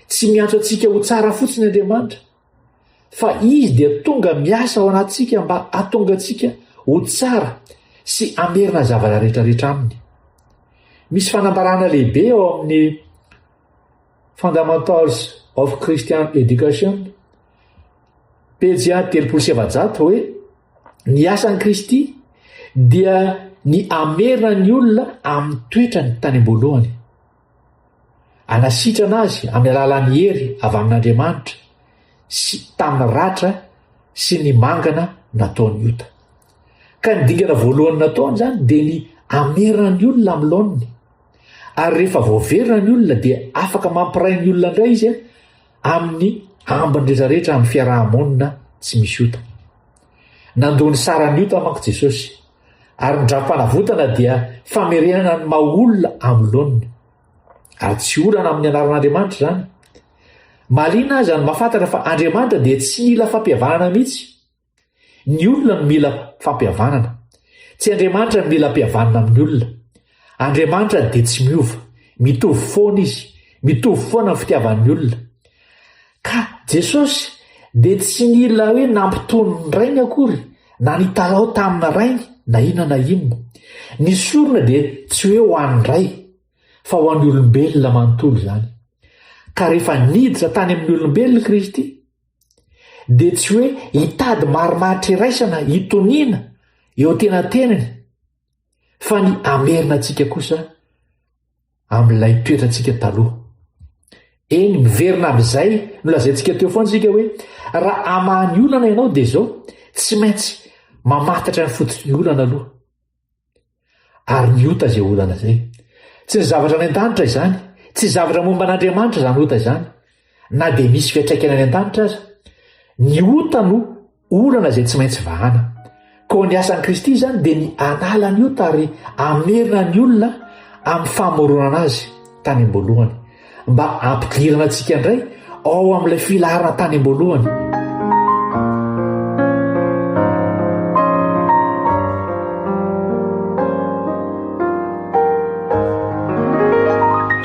tsy miantso antsika ho tsara fotsiny Andriamanitra, fa Izy dia tonga miasa ao anatintsika mba hatonga antsika ho tsara sy hamerina ny zavatra rehetrarehetra Aminy. Misy fanambarana lehibe ao amin'ny Fundamentals of Christian Education, pejy telopolo sy efajato hoe, Ny asan'i Kristy dia ny hamerina ny olona amin'ny toetrany tany am-boalohany, hanasitrana azy amin'ny alalan'ny hery avy amin'Andriamanitra sy tamin'ny ratra sy ny mangana nataon'ny ota. Ka ny dingana voalohany nataony izany dia ny hamerina ny olona amin'ny laoniny. Ary rehefa voaverina ny olona dia afaka mampiray ny olona indray izy amin'ny ambiny rehetra rehetra amin'ny fiaraha-monina tsy misy ota. Nandoa ny saran'ny ota manko Jesosy, ary ny dram-panavotana dia famerenana ny maha olona amin'ny laoniny. Ary tsy olana amin'ny anaran'Andriamanitra izany. Mahaliana aza ny mahafantatra fa Andriamanitra dia tsy nila fampihavanana mihitsy. Ny olona no mila fampihavanana. Tsy Andriamanitra no mila ampihavanina amin'ny olona. Andriamanitra dia tsy miova. Mitovy foana Izy. Mitovy foana ny fitiavan'ny olona. Ka Jesosy dia tsy nila hoe nampitony ny Rainy akory, na nitalaho tamina Rainy, na inona na inona. Ny sorona dia tsy hoe ho an'ny Ray, fa ho an'ny olombelona manontolo izany. Ka rehefa niditra tany amin'ny olombelona Kristy, dia tsy hoe hitady marimaritra iraisana hitoniana eo tenatenany fa ny hamerina antsika kosa amin'ilay toetrantsika taloha. Eny, miverina amin'izay nolazaintsika teo foana isika hoe raha hamaha ny olana ianao dia izao, tsy maintsy mamantatra ny fototr'olana aloha. Ary ny ota izay olana izay. Tsy ny zavatra any an-danitra izany. Tsy zavatra momba an'Andriamanitra izany ota izany. Na dia misy fiatraikany any an-danitra aza. Ny ota no olana izay tsy maintsy vahana. Koa ny asan'i Kristy izany dia ny anala ny ota ary hamerina ny olona amin'ny famoronana azy tany am-boalohany. mba hampidirana antsika indray ao amin'ilay filaharana tany am-boalohany.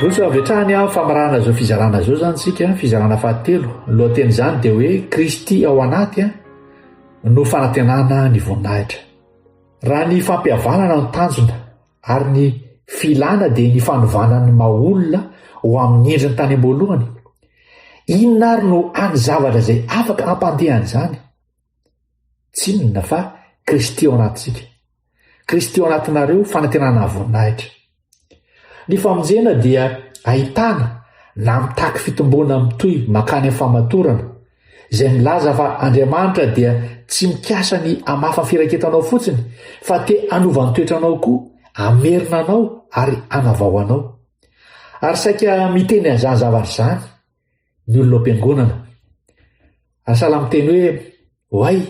Vontotra avy hatrany amin'ny famarahana izao fizarana izao izany isika, fizarana fahatelo. Ny lohatenin'izany dia hoe Kristy ao anaty no fanantenana ny voninahitra. Raha ny fampihavanana no tanjona, Ary ny filana dia ny fanovana ny maha olona ho amin'ny endriny tany am-boalohany. Inona ary no hany zavatra izay afaka hampandeha an'izany? Tsy inona fa Kristy ao anatintsika. Kristy ao anatinareo, fanantenana voninahitra. Ny famonjena dia ahitana na mitaky fitomboana mitohy makany amin'ny fahamatorana, izay milaza fa Andriamanitra dia tsy mikasa ny hamafa ny firaketanao fotsiny fa te hanova ny toetranao koa, hamerina anao ary hanavao anao. Ary saika miteny an'izany zavatra izany ny olona ao am-piangonana. Ary sahala miteny hoe, Oay,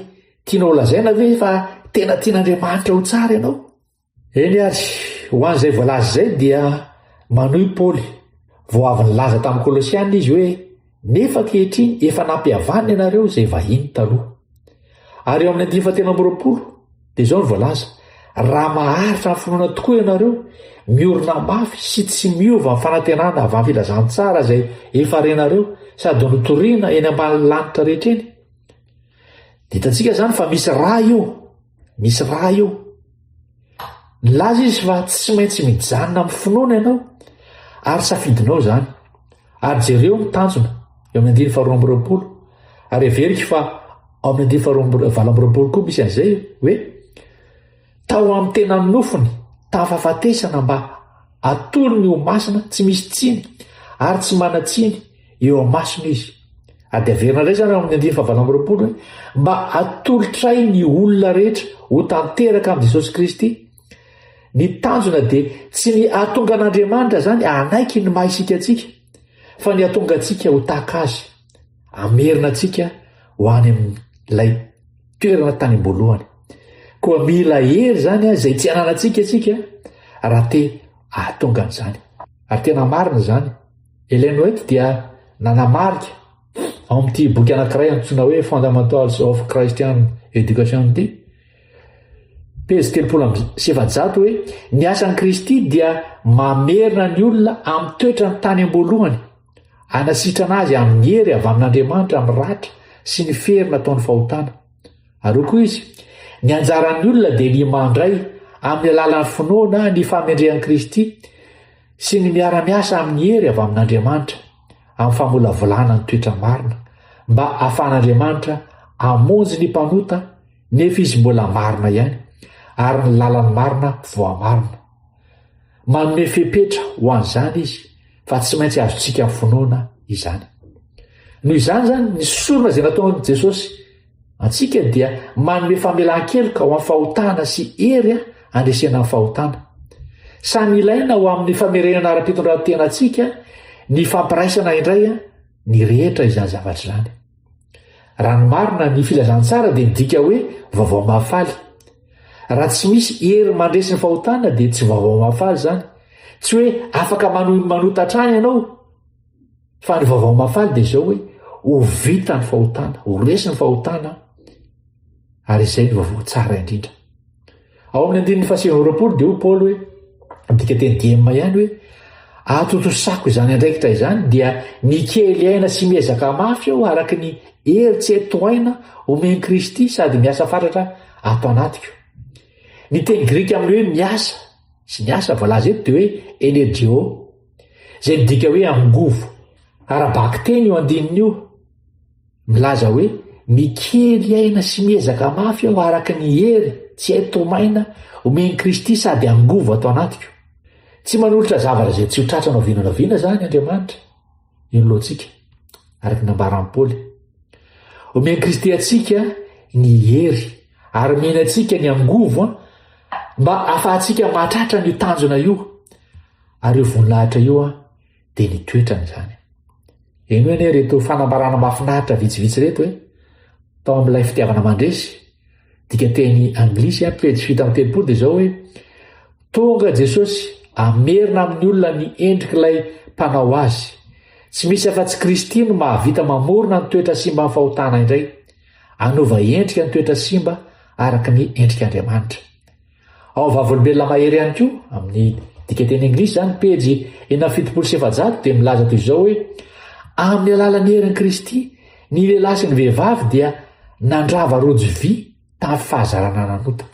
tianao holazaina ve fa tena tian'Andriamanitra ho tsara ianao? Eny ary, ho an'izay voalaza izay dia manohy i Paoly, Vao avy nilaza tamin'ny Kolosiana izy hoe, Nefa ankehitriny efa nampihavanina ianareo izay vahiny taloha. Ary eo amin'ny andininy fahatelo amby roapolo, dia izao no voalaza, Raha maharitra amin'ny finoana tokoa ianareo, miorina mafy sy tsy miova amin'ny fanantenana avy amin'ny filazantsara izay efa renareo sady notorina eny ambany lanitra rehetra eny. Dia hitantsika izany fa misy ra io. Misy raha io. Nilaza izy fa tsy maintsy mijanona amin'ny finoana ianao ary safidinao izany. Ary jereo ny tanjona eo amin'ny andiny faharoa amby roapolo. Ary averiko fa ao amin'ny andiny faharoa valo amby roapolo koa misy an'izay hoe tao amin'ny tena nofony tafafatesana mba atolony ho masina tsy misy tsiny ary tsy manan-tsiny eo amasony izy ady averina indray zany ao amin'ny andiany fahavalo amby roapolo hoe mba atolotray ny olona rehetra ho tanteraka amin'i jesosy kristy ny tanjona dia tsy ny atonga an'andriamanitra zany anaiky ny maha isika atsika fa ny atonga atsika ho taka azy amerina atsika ho any am'lay toerana tany amboalohany koa mila hery zany a zay tsy ananatsika atsika raha te ahatonga an'izany ary tena marina zany Ellen White dia nanamarika, ao amin'ity boky anankiray antsoina hoe Fundamentals of Christian Education ity, pejy telopolo amby sy efajato hoe ny asan'i Kristy dia mamerina ny olona amin'ny toetrany tany am-boalohany, hanasitrana azy amin'ny hery avy amin'Andriamanitra amin'ny ratra sy ny fery nataon'ny fahotana. Ary hoy koa izy, ny anjaran'ny olona dia ny mandray amin'ny alalan'ny finoana ny famendrehan'i Kristy sy ny miara-miasa amin'ny hery avy amin'Andriamanitra amin'ny famolavolana ny toetra marina mba hahafahan'Andriamanitra hamonjy ny mpanota nefa izy mbola marina ihany ary ny lalan'ny marina voamarina. Manome fepetra ho an'izany izy fa tsy maintsy azontsika finoana izany. Noho izany izany ny sorona izay nataon'i Jesosy Antsika dia manome famelan-keloka ho an'ny fahotana sy hery handresena ny fahotana. Samy ilaina ho amin'ny famerenana ara-pitondrantena antsika ny fampiraisana indray ny rehetra izany zavatra izany. Raha ny marina ny filazantsara dia midika hoe vaovao mahafaly. Raha tsy misy hery mandresy ny fahotana dia tsy vaovao mahafaly izany. Tsy hoe afaka manohy ny manota hatrany ianao, Fa ny vaovao mahafaly dia izao hoe ho vita ny fahotana, ho resy ny fahotana ary izay ny vaovao tsara indrindra. Ao amin'ny andininy fahasivavoroapolo dia ho Paoly hoe midika teny diema ihany hoe atotosako izany andraikitra izany dia mikely aina sy miezaka mafy aho araka ny hery tsy eto aina omen Kristy sady miasa fatratra ato anatiko. Ny teny grika amin'ny hoe miasa sy ny asa voalaza eto dia hoe energeo izay midika hoe angovo. Ara-bakiteny io andininy io. Milaza hoe, Mikely aina sy miezaka mafy aho araka ny hery tsy hay tomaina omen'i Kristy sady angovo ato anatiko. Tsy manolotra zavatra izay tsy ho tratrany oviana na oviana izany Andriamanitra. Io ny lohantsika, araka ny nambaran'i Paoly. Omen'i Kristy antsika ny hery ary omeny antsika ny angovo mba ahafahantsika mahatratra an'io tanjona io. Ary io voninahitra io dia ny toetrany izany. Henoy anie ireto fanambarana mahafinaritra vitsivitsy ireto e. Tao amin'ilay fitiavana mandresy, dika teny anglisy a, pejy fito amby telopolo dia izao hoe tonga Jesosy hamerina amin'ny olona ny endrik'ilay mpanao azy. Tsy misy afa-tsy Kristy no mahavita mamorona ny toetra simban'ny fahotana indray, hanova endrika ny toetra simba araka ny endrik'Andriamanitra. Ao Vavolombelona Mahery ihany koa, amin'ny dikanteny anglisy izany, pejy enina amby fitopolo sy efajato, dia milaza toy izao hoe, Amin'ny alalan'ny herin'i Kristy, ny lehilahy sy ny vehivavy dia nandrava rojo vy tamin'ny fahazarana nanota.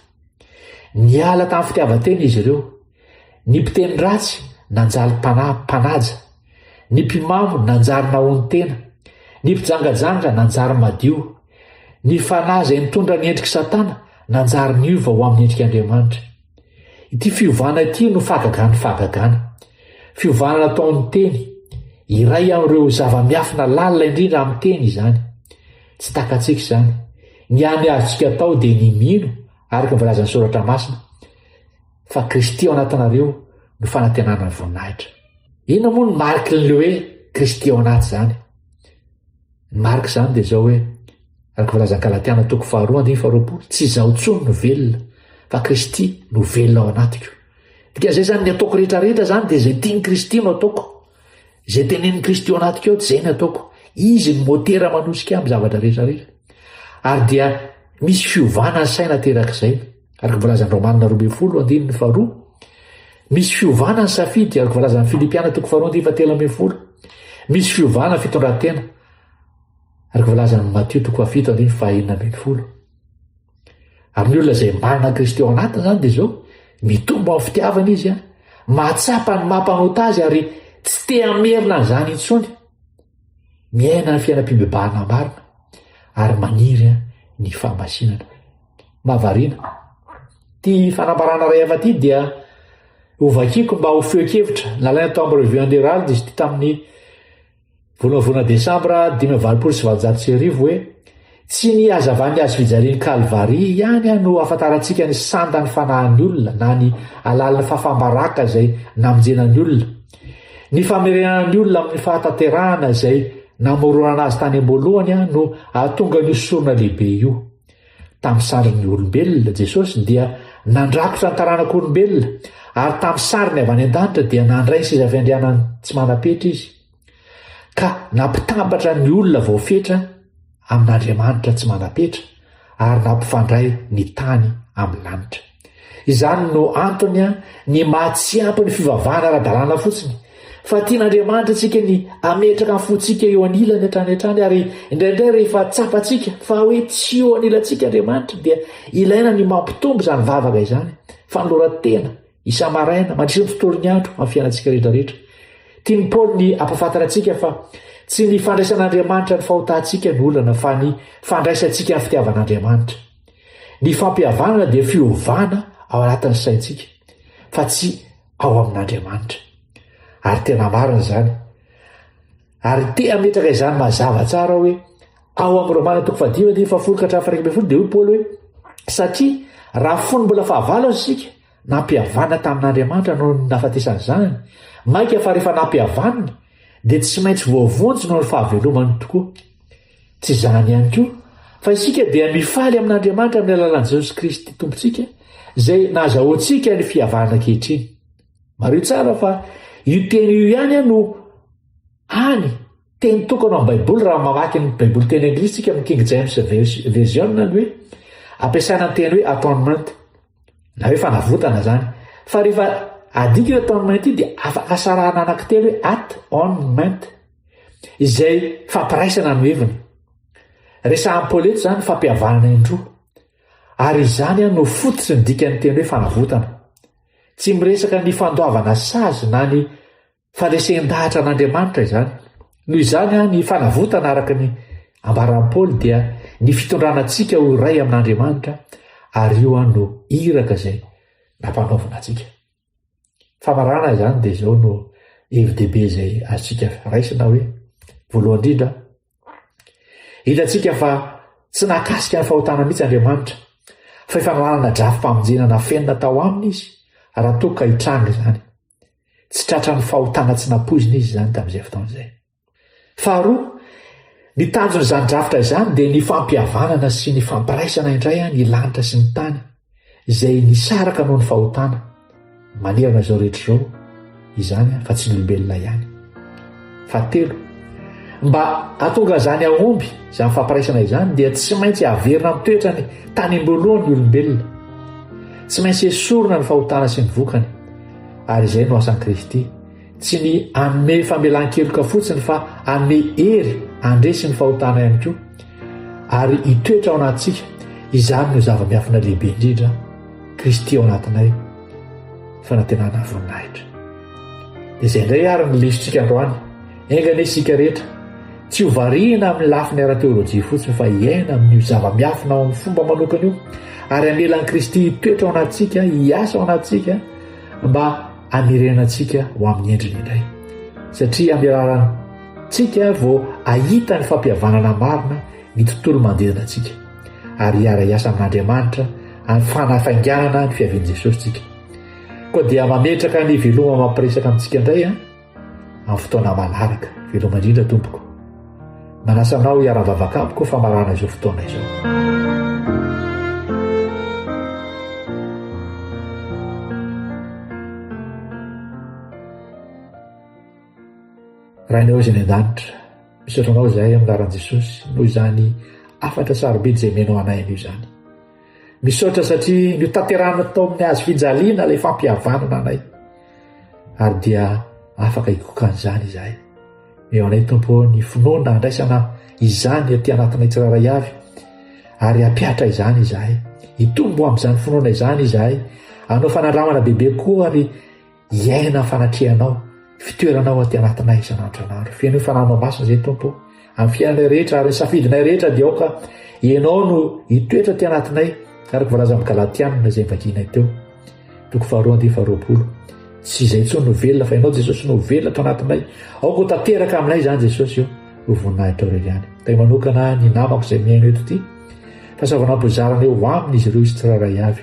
Niala tamin'ny fitiavan-tena izy ireo. Ny mpiteny ratsy nanjary mpanahy mpanaja. Ny mpimamo nanjary nahon-tena. Ny mpijangajanga nanjary madio. Ny fanahy izay nitondra ny endrik'i Satana nanjary niova ho amin'ny endrik'Andriamanitra. Ity fiovana ity no fahagagan'ny fahagagana. Fiovana nataon'ny teny. Iray amin'ireo zava-miafina lalina indrindra amin'ny teny izany. Tsy takatsika izany. Ny hany azontsika atao dia ny mino, araka ny voalazan'ny Soratra Masina, fa Kristy ao anatinareo no fanantenana voninahitra. Inona moa no mariky ny hoe Kristy ao anaty izany? Ny marika izany dia izao hoe, araka ny filazan'ny Galatiana toko faharoa andininy faharoapolo, tsy izaho intsony no velona, fa Kristy no velona ao anatiko. Dikan'izay izany, ny ataoko rehetra rehetra izany dia izay tian'i Kristy no ataoko. Izay tenenin'i Kristy ao anatiko ao dia izay ny ataoko. Izy ny motera manosika amin'ny zavatra rehetra rehetra. Ary dia misy fiovana ny saina aterak'izay. Araka ny voalazan'i Romanina roa ambin'ny folo andininy faharoa, misy fiovana ny safidy, araka ny voalazan'i Filipiana toko faharoa andininy fahatelo ambin'ny folo, misy fiovana ny fitondran-tena, araka ny voalazan'i Matio toko fahafito andininy fahaenina ambin'ny folo. Amin'ny olona izay manana Kristy ao anatiny izany dia izao, mitombo amin'ny fitiavana izy, mahatsapa ny maha-mpanota azy ary tsy te hamerina an'izany intsony. Miaina ny fiainam-pibebahana marina ary maniry ny fahamasinana. na variana. Ity fanambarana iray hafa ity dia hovakiko mba ho feokevitra nalaina tao amin'ny Revue and Herald izy ity tamin'ny volana desambra dimy amby valopolo sy valonjato sy arivo hoe tsy ny hazavan'ny azo fijalian'ny Kalvary ihany aho no ahafantarantsika ny sandan'ny fanahin'ny olona na ny alalin'ny fafambaraka izay namonjena ny olona. Ny famerenana ny olona amin'ny fahatanterahana izay namoronana azy tany am-boalohany aho no ahatonga ny osorona lehibe io. Tamin'ny sarin'ny olombelona, Jesosy dia nandrakotra ny taranak'olombelona, ary tamin'ny sariny avy any an-danitra dia nandray ny seza fiandrianany tsy manam-petra izy, ka nampitambatra ny olona voafetra amin'Andriamanitra tsy manam-petra, ary nampifandray ny tany amin'ny lanitra. Izany no antony ny maha tsy ampy ny fivavahana ara-dalàna fotsiny, fa tian'Andriamanitra antsika ny hametraka ny fontsika eo anilany hatrany hatrany ary indraindray rehefa tsapantsika fa hoe tsy eo anilantsika Andriamanitra dia ilaina ny mampitombo izany vavaka izany, fanoloran-tena, isa-maraina, mandritra ny tontolon'ny andro amin'ny fiainantsika rehetra rehetra. Tian'i Paoly ny hampafantatra antsika fa tsy ny fandraisan'Andriamanitra ny fahotantsika no olana fa ny fandraisantsika ny fitiavan'Andriamanitra. Ny fampihavanana dia fiovana ao anatin'ny saintsika, fa tsy ao amin'Andriamanitra. Ary tena marina izany. Ary te hametraka izany mazava tsara aho hoe ao amin'ny Romana toko fahadimy andininy fahafolo ka hatramin'ny faraika ambin'ny folo dia hoy Paoly hoe satria raha fony mbola fahavalo aza isika Nampihavana tamin'Andriamanitra noho ny nahafatesany Zanany, mainka fa rehefa nampihavanina, dia tsy maintsy voavonjy noho ny fahavelomany tokoa. Tsy izany ihany koa, fa isika dia mifaly amin'Andriamanitra amin'ny alalan'i Jesosy Kristy Tompontsika, izay nahazahoantsika ny fihavana ankehitriny. Mariho tsara fa io teny io ihany no any Teny tokana ao amin'ny Baiboly raha mamaky ny Baiboly teny anglisy isika amin'ny King James Version ny hoe ampiasaina ny teny hoe atonement na hoe fanavotana izany. Fa rehefa adika io atonement io dia afaka sarahana anankitelo hoe at on ment izay fampiraisana no heviny. Resahan'i Paoly eto izany fampihavanana indroa. Ary izany no fototry ny dikan'ny teny hoe fanavotana. Tsy miresaka ny fandoavana sazy na ny fa resen-dahatra an'Andriamanitra izany. Noho izany, ny fanavotana araka ny ambaran'i Paoly dia ny fitondrana antsika ho iray amin'Andriamanitra ary io an no iraka izay nampanaovina antsika. Famarana izany dia izao no hevi-dehibe izay azontsika raisina hoe voalohany indrindra hitantsika fa tsy nakasika ny fahotana mihitsy Andriamanitra fa efa nanana drafi-pamonjena nafenina tao aminy izy raha toa ka hitranga izany. Tsy tratran'ny fahotana tsy nampoizina izy izany tamin'izay fotoana izay. Faharoa, ny tanjon'izany drafitra izany dia ny fampihavanana sy ny fampiraisana indray an ny lanitra sy ny tany izay nisaraka noho ny fahotana manerana izao rehetra izao izany fa tsy ny olombelona ihany. Fahatelo, mba hahatonga izany hahomby izany fampiraisana izany dia tsy maintsy haverina amin'ny toetrany tany am-boalohany ny olombelona. Tsy maintsy esorina ny fahotana sy ny vokany. Ary izay no asan'i Kristy, tsy ny hanome famelan-keloka fotsiny fa hanome hery handresy ny fahotana ihany koa ary hitoetra ao anatintsika. Izany no zava-miafina lehibe indrindra, Kristy ao anatinay, fanantenana voninahitra. Dia izay indray ary ny lesotsika androany. Enga anie isika rehetra, tsy ho variana amin'ny lafiny ara-teolojia fotsiny fa hiaina amin'io zava-miafina ao amin'ny fomba manokana io, ary hamela an'i Kristy hitoetra ao anatintsika, hiasa ao anatintsika, mba hamerenantsika ho amin'ny endriny indray. Satria amin'ny alalantsika vao ahita ny fampihavanana marina ny tontolo manodidina antsika, ary hiara-hiasa amin'Andriamanitra amin'ny fanafainganana ny fiavian'i Jesosy tsika. Koa dia mametraka ny veloma mampiresaka amintsika indray an, amin'ny fotoana manaraka. Veloma indrindra tompoko. Manasa anao hiara-mivavaka amiko famarana izao fotoana izao. Rainao izay any an-danitra, misaotra anao izahay amin'ny laran'i Jesosy noho izany afatra sarobidy izay menao anay anio izany. Misaotra satria notanterahanao tao amin'ny hazo fijaliana ilay fampihavanana anay. Ary dia afaka hikoka an'izany izahay. Meo anay Tompo ny finoana handraisana izany aty anatinay tsirairay avy ary hapiatra izany izahay. Hitombo amin'izany finoana izany izahay. Anao fanandramana bebe koa ary Hiaina ny fanatrehanao, fitoeranao aty anatinay isan'andronandro. Fenoy fananao masina izay Tompo o, amin'ny fiainanay rehetra ary safidinay rehetra dia aoka ianao no hitoetra aty anatinay araka voalaza amin'ny Galatianina izay vakinay teo. Toko faharoa andiany faharoapolo. Tsy izay intsony no velona fa ianao Jesosy no velona ato anatinay. Aoka ho tanteraka aminay izany Jesosy o, ho voninahitro ireo ihany. Tay manokana ny namako izay mihaino eto ity. Fahasavanam-po zarana eo aminy izy ireo izy tsirairay avy.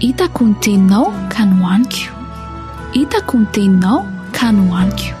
Hitako ny teninao ka nohaniko Hitako ny teninao ka nohaniko